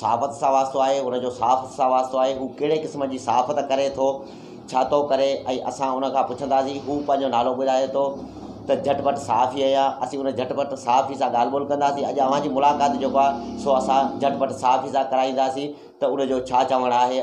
صحافت سان واسطو آهي ان جو صحافت سان واسطو آهي هو ڪهڙي قسم جي صحافت ڪري ٿو ڇا ٿو ڪري ۽ اسان ان کان پڇنداسين هو پنهنجو نالو ٻڌائي ٿو ته جهٽ پٽ صحافي آهيان اسين ان جهٽ پٽ صحافي سان ڳالهه ٻولهه ڪنداسين اڄ اوهان جي ملاقات جيڪو آهي سو اسان جهٽ پٽ صحافي سان ڪرائينداسين ته ان جو ڇا چوڻ آهي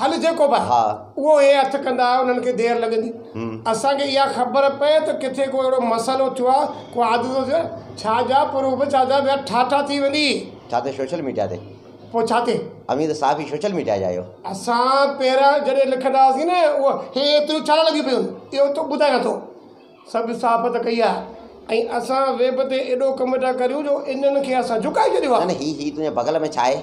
هل جيڪو به آهي اهو هي هٿ ڪندا انهن کي دير لڳندي اسان کي اها خبر پئي ته ڪٿي ڪو اهڙو مسئلو ٿيو آهي ڪو حادثو ٿيو آهي ڇا جا پروف ڇا جا ويا ٺاٺا ٿي ويندي ڇا ته سوشل ميڊيا تي پوء ڇا تي اوهين ته صحافي سوشل ميڊيا جا آهيو اسان پهريان جڏهن لکندا هئاسين نه اهو هي ايتريون ڇا لڳيون پيون آهن اهو تو ٻڌايان ٿو سڀ صحافت ڪئي آهي ۽ اسان ويب تي ايڏو ڪم ٿا ڪريون جو انهن کي اسان جهڪائي ڇڏيو آهي نه نه هي هي تنهنجي بغل ۾ ڇا آهي.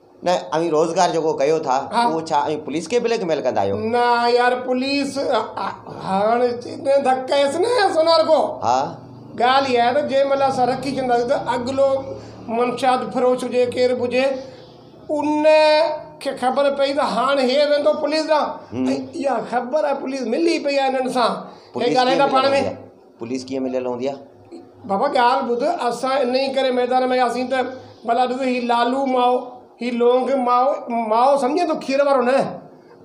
نه اوهين روزگار جيڪو ڪيو ٿا اهو ڇا اوهين پوليس کي بليڪ ميل ڪندا آهيو. نه يار پوليس هاڻ جڏهن ڌڪ ڪيس نه سونار گو ها ڳالهه اها آهي ته جنهن مهل اسان رکي ڇڏينداسين ته اڳلو منشيات فروش هجي ڪير به هجي ان کي خبر پئي ته هاڻ هي ويندو پوليس ڏانهن ۽ اها خبر پوليس ملي پئي آهي هنن سان هي ڳالهائين ٿا پاڻ ۾. پوليس ڪيئن مليل هوندي آ؟ بابا ڳالهه ٻڌ، اسان انهيء ڪري ميدان ۾ آياسين ته ڀلا ڏس هي لالو ماء، هي لونگ ماء، ماء سمجهين ٿو کير وارو نه،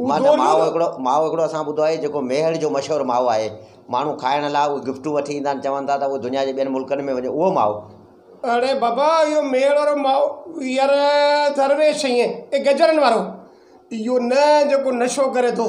هو ماء نه، ماء هڪڙو، ماء هڪڙو اسان ٻڌو آهي جيڪو ميهڙ جو مشهور ماء آهي، ماڻهو کائڻ لاء اهي گفٽون وٺي ايندا آهن، چون ٿا ته اهو دنيا جي ٻين ملڪن ۾ وڃي، اهو ماء. اڙي بابا اهو ميهڙ وارو ماء، يار درويش ائين، اي گجرن وارو، اهو نه جيڪو نشو ڪري ٿو.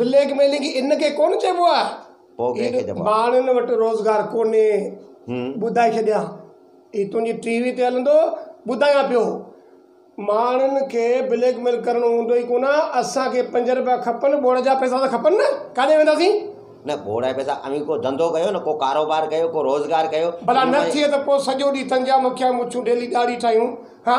بليڪ ميلنگ ان کي ڪونه چئبو آ. پوء ڪنهن کي چئبو آ؟ ماڻهن وٽ روزگار ڪونهي ٻڌائي ڇڏيان هي تنهنجي ٽي وي تي هلندو ٻڌايان پيو ماڻهن کي بليڪ ميل ڪرڻو هوندو ئي ڪونه اسان کي پنج رپيا کپن ٻوڙ جا پئسا ته کپن نه ڪاڏي وينداسين. نه ٻوڙ جا پئسا اوهين ڪو ڌنڌو ڪيو نه ڪو ڪاروبار ڪيو ڪو روزگار ڪيو. ڀلا نه ٿئي ته پوء سڄو ڏينهن تنجا مکيا مڇون ڊيلي ڏاڙهي ٺاهيون ها.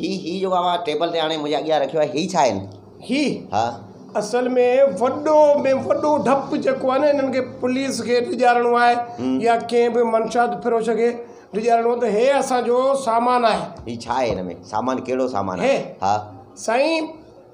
هي هي جيڪو اوهان ٽيبل تي آڻي منهنجي اڳيان رکيو آهي هي ڇا آهن؟ هي ها. اصل ۾ وڏو ۾ وڏو ڊپ جيڪو آهي نه هنن کي پوليس کي ڊيڄارڻو آهي يا ڪنهن به منشيات فروش کي ڊيڄارڻو آهي ته هي اسان جو سامان آهي. هي ڇا آهي هن ۾ سامان ڪهڙو سامان آهي؟ هي ها. سائين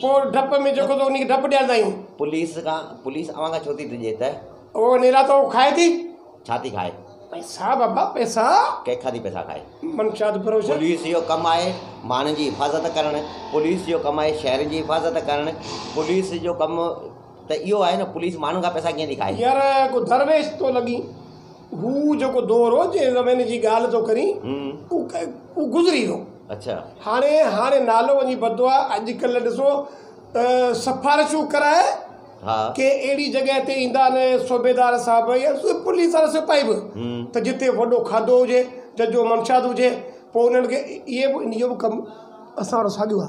پوء ڊپ ۾ جيڪو ٿو انهي کي ڊپ ڏياريندا آهيون. پوليس کان، پوليس اوهان کان ڇو ٿي ڊڄي ته. اهو نيراتو کائي ٿي. ڇا ٿي کائي؟ پئسا بابا پئسا. ڪنهن کان ٿي پئسا کائي؟ منشيات فروش. پوليس جو ڪم آهي ماڻهن جي حفاظت ڪرڻ، پوليس جو ڪم آهي شهرين جي حفاظت ڪرڻ، پوليس جو ڪم ته اهو آهي نه پوليس ماڻهن کان پئسا ڪيئن ٿي کائي؟ يار ڪو درويش ٿو لڳين. هو جيڪو دور هو، جنهن زماني جي ڳالهه ٿو ڪرين، اهو گذري ويو. هاڻي، هاڻي نالو وڃي پتو آ. اڄڪلهه ڏسو ته سفارشون ڪرائي ڪنهن اهڙي جڳهه تي ايندا آهن صوبيدار صاحب يا پوليس وارا سپاهي به ته جتي وڏو کاڌو هجي، ججهو منشيات هجي، پوء انهن کي اهي به اهو ڪم اسان وٽ ساڳيو آ.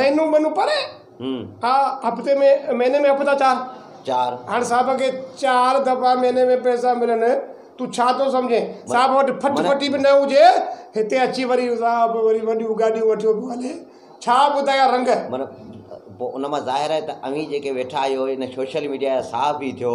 مهينو ٻنو پري ها هفتي ۾ مهيني ۾ هفتا چار هاڻ صاحب کي چار دفعا مهيني ۾ پئسا ملن تون ڇا ٿو سمجهين صاحب وٽ ڦٽ ڦٽي به نه هجي هتي اچي وري صاحب وري وڏيون گاڏيون وٺيو پيو هلي ڇا ٻڌايان رنگ مطلب ان مان ظاهر آهي ته اوهين جيڪي ويٺا آهيو ان سوشل ميڊيا جا صاحب ئي ٿيو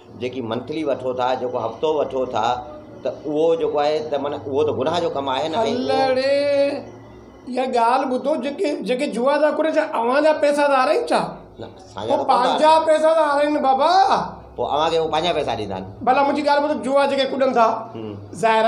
جيڪي منٿلي وٺو ٿا جيڪو هفتو وٺو ٿا ته اهو جيڪو آهي ته معنيٰ اهو ته گناهه جو ڪم آهي نه الڙي اها ڳالهه ٻڌو جيڪي جيڪي جوا ٿا گهرن ڇا اوهان جا پئسا ٿا هارائين ڇا هو پنهنجا پئسا ٿا هارائين بابا پوء اوهان کي هو پنهنجا پئسا ڏيندا آهن ڀلا منهنجي ڳالهه ٻڌو جوا جيڪي ڪڏن ٿا ظاهر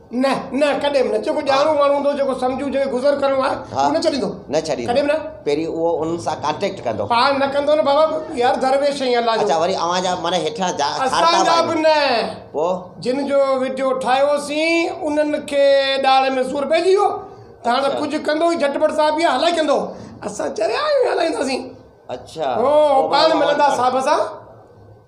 نه نه ڪڏهن به نه جيڪو ڄاڻو ماڻهو هوندو جيڪو سمجهو جنهن کي گذر ڪرڻو آهي اهو نه ڇڏيندو نه ڇڏيندو ڪڏهن به نه پهرين اهو انهن سان ڪانٽيڪٽ ڪندو پاڻ نه ڪندو نه بابا يار درويش سائين الله جو اچا وري اوهان جا معنيٰ هيٺان جا اسان جا به نه پوء جن جو وڊيو ٺاهيوسين انهن کي ڏاڙهه ۾ سور پئجي ويو ته هاڻ ڪجهه ڪندو ئي جٽ ڀٽ صاحب يا هلائي ڪندو اسان چريا آهيون هلائينداسين اچا هو پاڻ ملندا صاحب سان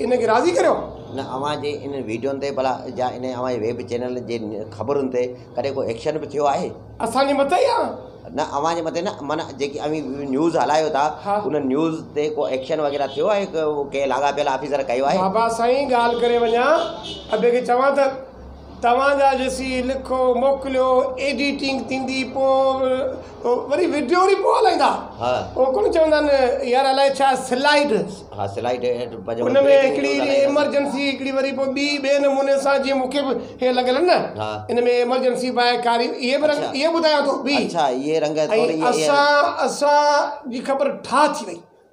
ان کي راضي ڪريو. نه اوهان جي انهن ويڊيون تي ڀلا جا انهن اوهان جي ويب چينلن جي خبرن تي ڪڏهن ڪو ايڪشن به ٿيو آهي؟ اسان جي مٿي يا؟ نه اوهان جي مٿي نه من جيڪي اوهين نيوز هلايو ٿا انهن نيوز تي ڪو ايڪشن وغيره ٿيو آهي ڪنهن لاڳاپيل آفيسر ڪيو آهي؟ بابا سائين ڳالهه ڪري وڃان ابي کي چوان ته. توهان جا ڏسي لکو موڪليو ايڊيٽنگ ٿيندي پوء وري وڊيو وري پوء هلائيندا ها او ڪونه چوندا آهن يار الائي ڇا سلائيڊ ها سلائيڊ ان ۾ هڪڙي ايمرجنسي هڪڙي وري پوء ٻي ٻئي نموني سان جي مونکي به هي لڳل آهن نه ان ۾ ايمرجنسي باء ڪاري اهي به رنگ اهي ٻڌايان ٿو بي اڇا اهي رنگ اسان اسان جي خبر ٺا ٿي وئي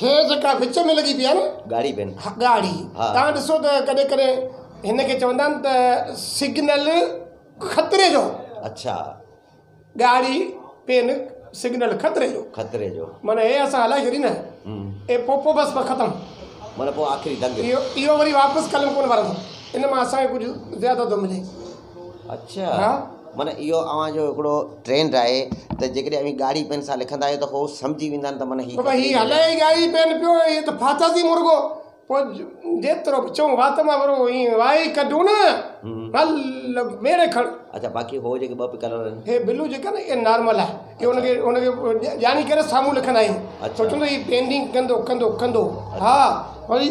هي جيڪا وچ ۾ لڳي پئي آهي نه. ڳاڙهي پين. ها ڳاڙهي. ها. توهان ڏسو ته ڪڏهن ڪڏهن هن کي چوندا آهن ته سگنل خطري جو. اڇا. ڳاڙهي پين سگنل خطري جو. خطري جو. معنيٰ هي اسان هلائي ڇڏي نه. هم. اي پو پو بس پو ختم. معنيٰ پو آخري دنگ. اهو اهو وري واپس قلم ڪونه وارندو. ان مان اسان کي ڪجهه زياده ٿو ملي. اڇا ها معنيٰ اهو اوهان جو هڪڙو ٽرينڊ آهي ته جيڪڏهن اوهين ڳاڙهي پين سان لکندا آهيو ته هو سمجهي ويندا آهن ته معنيٰ هي ته ڀاء هي هلائي ئي ڳاڙهي پين پيو هي ته ڦاساسي مرغو پوء جيترو به چئون وات مان ورو ايئن وائي ڪڍون نه هل ميڙي کڻ اڇا باقي هو جيڪي ٻه ڪلر آهن هي بلو جيڪا نه اها نارمل آهي هي ان کي ان کي ڄاڻي ڪري سامهون لکندا آهيون اڇا سوچندو هي پينٽنگ ڪندو ڪندو ڪندو ها وري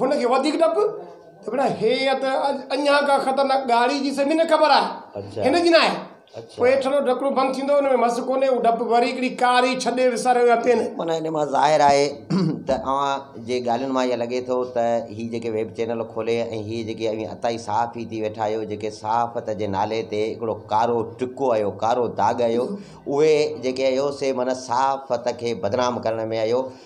هن کي وڌيڪ ڊپ ته ڀيڻا هيء ته اڃا ڪا خطرناڪ ڳاڙهي جي سڀني کي خبر آهي، هن جي ناهي. پوء هيٺرلو ڍڪڻو بند ٿيندو، ان ۾ مس ڪونهي، هو ڊپ وري هڪڙي ڪاري ڇڏي وساري ويا پين. معنيٰ ان مان ظاهر آهي ته اوهان جي ڳالهين مان ائين لڳي ٿو ته هي جيڪي ويب چينل کولي ۽ هي جيڪي اوهين عطائي صحافي ٿي ويٺا آهيو، جيڪي صحافت جي نالي تي هڪڙو ڪارو ٽڪو آهيو، ڪارو داغ آهيو، اهي جيڪي آهيو سي معنيٰ صحافت کي بدنام ڪرڻ ۾ آهيو.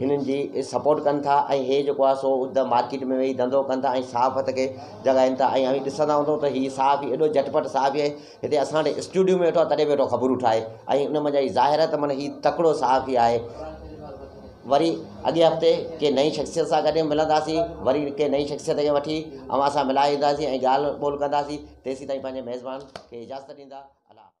هنن جي سپورٽ ڪن ٿا ۽ هي جيڪو آهي سو اڌ مارڪيٽ ۾ ويهي ڌنڌو ڪن ٿا ۽ صاف هٿ کي جڳائين ٿا ۽ اوهين ڏسندا هوندو ته هي صاف هي ايڏو جٽ پٽ صاف هي هتي اسان وٽ اسٽوڊيو ۾ ويٺو تڏهن ويٺو خبرون ٺاهي ۽ ان منجهان هي ظاهر آهي ته معنيٰ هي تڪڙو صاف هي آهي وري اڳئين هفتي ڪنهن نئين شخصيت سان گڏ ملنداسين وري ڪنهن نئين شخصيت کي وٺي اوهان سان ملائي اينداسين ۽ ڳالهه ٻولهه ڪنداسين تيسين تائين پنهنجي ميزبان کي اجازت ڏيندا الله حافظ